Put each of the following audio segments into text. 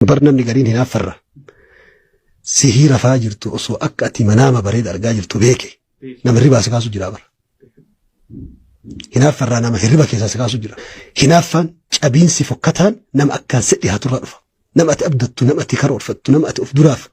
Bar namni gariin hinaaffarra sihii rafaa jirtu osoo akka ati manaama bareeda argaa jirtu beeke nama hirribaa si kaasu jira bara. Hinaaffarraa nama hirriba keessaa si kaasu jira. Hinaaffaan cabiinsi fokkataan nama akkaan si dhihaaturraa dhufa. Nama ati abdattu, nama ati karoorfattu, nama ati of duraaf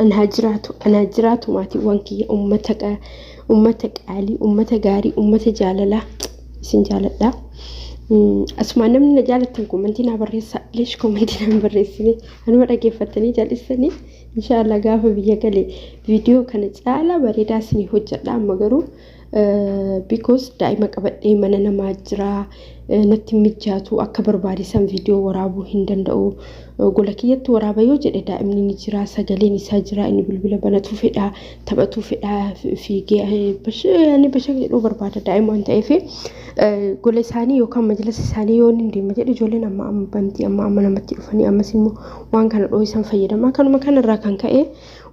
An haa jiraatu, an haa jiraatu maatiiwwan kiyya ummata qa- ummata qaalii, ummata gaarii, ummata jaalalaa isin jaaladha. Mm, Asumaan namni na jaalattan komantii naa barreessa. Leesh komantii naa hin barreessine. Anuma dhaggeeffattanii jal'istanii. Inshaallah gaafa biyya gale viidiyoo kana caalaa bareedaa isinii hojjedha amma garuu Because daa'ima qabadhee mana namaa jira natti mijaatu akka barbaade san viidiyoo waraabuu hin danda'u. Gola kiyyatti waraaba yoo jedhe daa'imni ni jira sagaleen isaa jira inni bilbila banatuu fedha taphatuu fedha fiigee ani bashaq jedhuu barbaada daa'ima waan ta'eef gola isaanii yookaan majlisa isaanii yoo inni deema jedhe ijoolleen amma amma bantii amma amma namatti dhufanii ammas immoo waan kana dhoohisan fayyadama kanuma kanarraa kan ka'e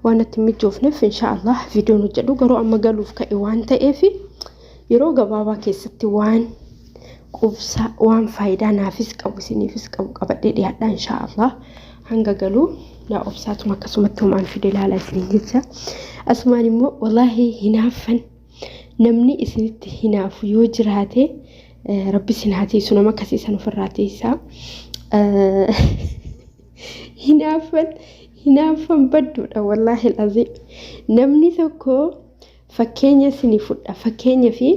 waan natti hin mijoofneef insha Allah viidiyoon hojjedhu garuu amma galuuf ka'e waan ta'eef yeroo gabaabaa keessatti waan qubsaa waan faayidaa naafis qabu isiniifis qabu qabadhee dhiyaadha insha Allah hanga galuu yaa obsaatuma akkasumatti homaan fide ilaala isiniin jecha asumaan immoo wallaahi hinaaffan namni isinitti hinaafu yoo jiraate rabbi isin haa teessu nama akkasii san ofirraa teessaa. hinaaffan hinaaffan badduudha wallaahi alazim namni tokko fakkeenya sini fudha fakkeenya fi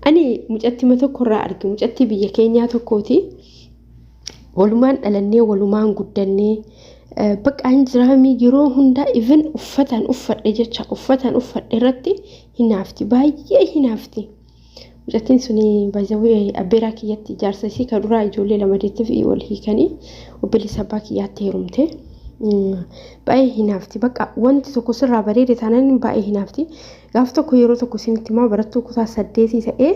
ani mucattima tokkorraa arge mucatti biyya keenyaa tokkooti walumaan dhalannee walumaan guddannee baqaan jiraamii yeroo hundaa even uffataan uffadhe jecha uffataan uffadhe irratti hinaafti baay'ee hinaafti. Mucattiin suni baay'ee abbeeraa kiyyatti jaarsa isii ka duraa ijoollee lama deetteef wal hiikanii obboleessa abbaa kiyyaatti heerumte. Baay'ee hinaafti bakka wanti tokko sirraa bareede taanaan baay'ee hinaafti. Gaaf tokko yeroo tokko isinitti himaa barattuu kutaa saddeetii ta'ee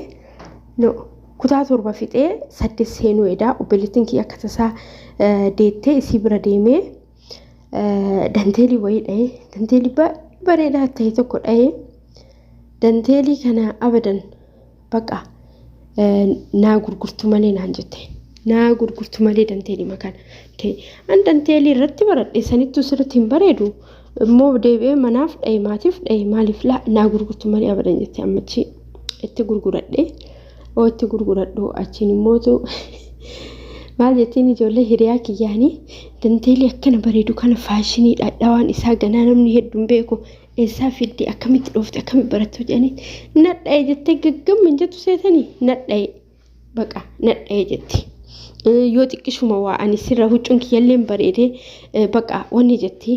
no kutaa torba fixee saddeet seenuu edaa obboleettiin kiyya akka tasaa deettee isii bira deemee danteelii wayii dhahee danteelii baay'ee bareedaa ta'e tokko dhahee danteelii kana abadan baqa naa gurgurtu malee naan jette naa gurgurtu malee danteelii makaan ta'e an danteelii irratti baradhe sanittuu sirriitti hin bareedu immoo deebi'ee manaaf dhahee maatiif dhahee maaliif laa naa gurgurtu malee abadan jette ammachi itti gurguradhe. oo itti gurguradhu achiin immootu maal jettiin ijoollee hiriyaa kiyyaanii dandeelii akkana bareedu kana faashinii dhadhaawaan isaa ganaa namni hedduun beeku eessaa fiddi akkamitti dhoofte akkamitti barattu jedhanii nadha'e jettee gaggamma hin jettu seetanii nadha'e baqa nadha'e jetti. yoo xiqqishuma waa ani sirra huccuun kiyyalleen bareedee baqa wanni jetti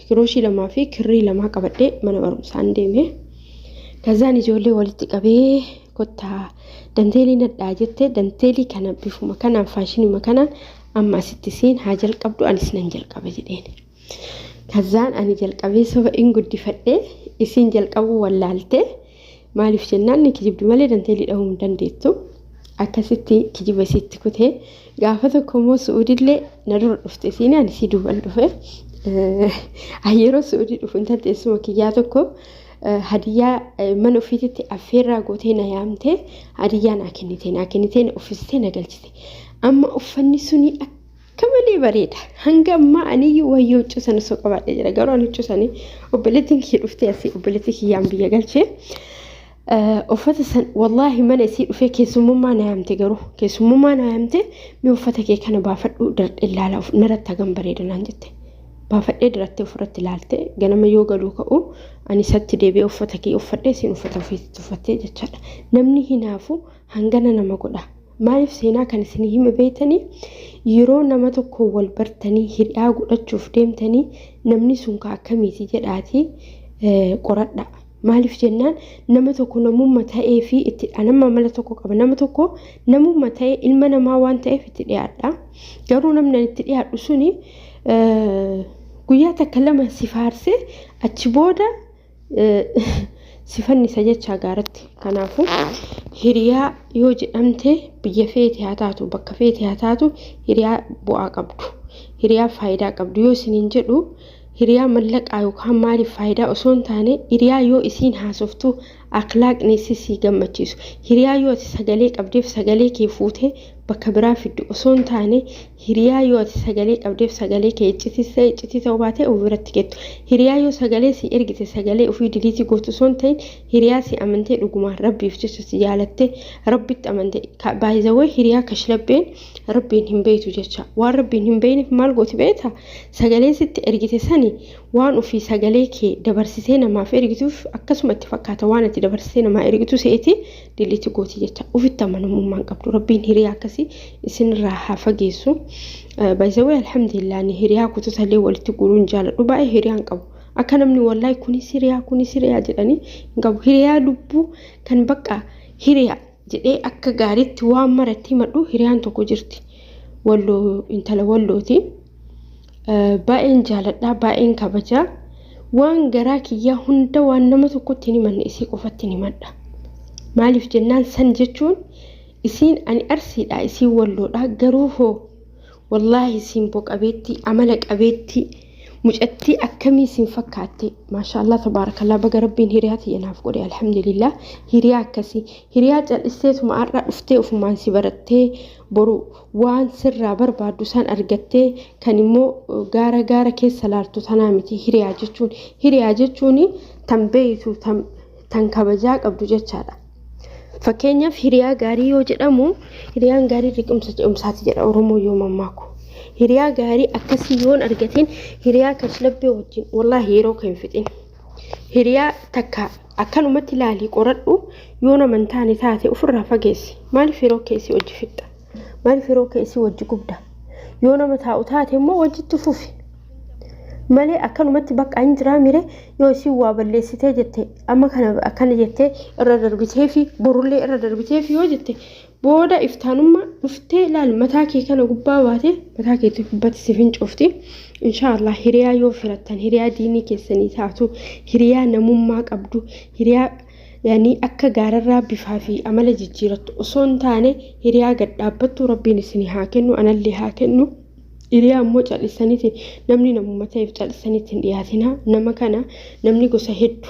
Kirooshii lamaa fi kirrii lamaa qabadhee mana barumsaan deeme. Kazaan ijoollee walitti qabee kottaa danteelii nadhaa jette danteelii kana bifuma kanaan faashinuma kanaan amma asitti isiin haa jalqabdu anis nan jalqaba jedheen. Kazaan ani jalqabee soba in guddifadhee isiin jalqabuu wallaaltee. Maaliif jennaan ni kijibdi malee danteelii dhahuu hin dandeettu. Akkasitti kijiba isiitti kutee gaafa tokko immoo su'uudillee na dura dhufte isiin ani isii duuban dhufe. Yeroo su'uudii dhufu intal teessuma kiyyaa tokko hadiyyaa mana ofiititti affeerraa gootee na yaamtee hadiyyaa naa kennite naa kennitee na uffisitee na galchite. Amma uffanni suni Akka malee bareeda. Hanga ammaa aniyyuu wayyoo huccuu sana osoo qabaadhee jira. Garuu ani huccuu sanii obboleettiin kiyya dhuftee asii obboleettii kiyyaan biyya galchee. uffata san wallaahi mana isii dhufee keessummummaa na yaamte garuu keessummummaa na yaamte mee uffata kee kana baafadhu dardhe ilaala naratti hagam bareeda naan jette baafadhee dirattee ofirratti ilaalte ganama yoo galuu ka'u ani isatti deebi'ee uffata kee uffadhee siin uffata ofiitti uffattee jechaadha namni hinaafu hangana nama godha Maaliif seenaa kan isin hime beektanii? Yeroo nama tokko wal bartanii hidhaa godhachuuf deemtanii namni sun ka akkamiiti jedhaatii qoradha. Maaliif jennaan nama tokko namumma ta'ee fi itti dhanamma amala tokko qaba. Nama tokko namumma ta'ee ilma namaa waan ta'eef itti dhiyaadha. Garuu namni itti dhiyaadhu suni guyyaa takka lama si faarsee achi booda si fannisa jechaa gaaratti. Kanaafuu hiriyaa yoo jedhamte biyya feete haa taatu bakka feete haa taatu hiriyaa bu'aa qabdu. Hiriyaa faayidaa qabdu yoo isiniin jedhu hiriyaa mallaqaa yookaan maaliif faayidaa osoo hin taane hiriyaa yoo isiin haasoftu akhlaaqni isii sii gammachiisu. Hiriyaa yoo ati sagalee qabdeef sagalee kee fuutee bakka biraa fiddu osoo hin taane Hiriyaa yoo ati sagalee qabdeef sagalee kee iccitis ta'e iccitii ta'uu baatee of biratti geettu. Hiriyaa yoo sagalee sii ergite sagalee ofii diliitii gootu osoo hin ta'in hiriyaa sii amantee dhugumaan rabbiif jecha si jaalattee rabbitti amante ka by the way hiriyaa kashlabbeen rabbiin hin beeytu jecha waan rabbiin hin beeyneef maal gooti beeyta sagalee sitti ergite sani waan ofii sagalee kee dabarsitee namaaf ergituuf akkasuma itti fakkaata waan ati dabarsitee namaa ergitu se'eeti diliiti gooti jecha ufitti amanamummaan qabdu rabbiin hiriyaa akkasii isinirraa haa fageessu baay'isawee alhamdulillah ni hiriyaa kutusalee walitti guruun jaaladhu baay'ee hiriyaan qabu akka namni wallahi kuni siriyaa kuni siriyaa jedhanii hin qabu hiriyaa lubbuu kan bakka hiriyaa jedhee akka gaariitti waan maratti himadhu hiriyaan tokko jirti walloo intala wallooti. Baay'een jaaladha, baay'een kabaja. Waan garaa kiyyaa hunda waan nama tokkotti hin himanne isii qofatti hin himadha. Maaliif jennaan san jechuun isiin ani arsiidha, isiin walloodha garuu hoo wallaahi simbo qabeetti, amala qabeetti, mucattii akkamii isin fakkaatte maashaallah tabaarakallaa baga rabbiin hiriyaa tiyya naaf godhe alhamdulillah hiriyaa akkasii hiriyaa cal'isteetuma har'a dhuftee ofumaan si barattee boru waan sirraa barbaaddu san argattee kan immoo gaara gaara keessa laaltu tanaa miti hiriyaa jechuun hiriyaa jechuun tan beeytu tan tan kabajaa qabdu jechaadha. Fakkeenyaaf hiriyaa gaarii yoo jedhamu hiriyaan gaarii liqimsa ce'umsaati jedha Oromoo yoo mammaaku. Hiriyaa gaarii akkasii yoon argatiin hiriyaa kashlabbee wajjin wallaahi yeroo kee hin fixin. Hiriyaa takka akkanumatti ilaalii qoradhu yoo nama hin taane taate ofirraa fageessi. Maaliif yeroo keessi hojii fixxa? Maaliif yeroo keessi hojii gubda? Yoo nama taa'u taate immoo hojiitti fufi. Malee akkanumatti bakka hin jiraa mire yoo isin waa balleessitee jette amma kana akkana jettee irra darbitee fi borullee irra darbitee fi yoo jette Booda iftaanumma dhuftee laal mataa kee kana gubbaa baate mataa keetti gubbatti si fincoofti. Inshaallah hiriyaa yoo firattan hiriyaa diinii keessanii taatu hiriyaa namummaa qabdu hiriyaa yani akka gaararraa bifaa fi amala jijjiirattu osoo hin taane hiriyaa gad dhaabbattu rabbiin isinii haa kennu anallee haa kennu. Hiriyaa ammoo cal'isaniiti namni namummaa ta'eef cal'isaniitti hin dhiyaatina nama kana namni gosa heddu.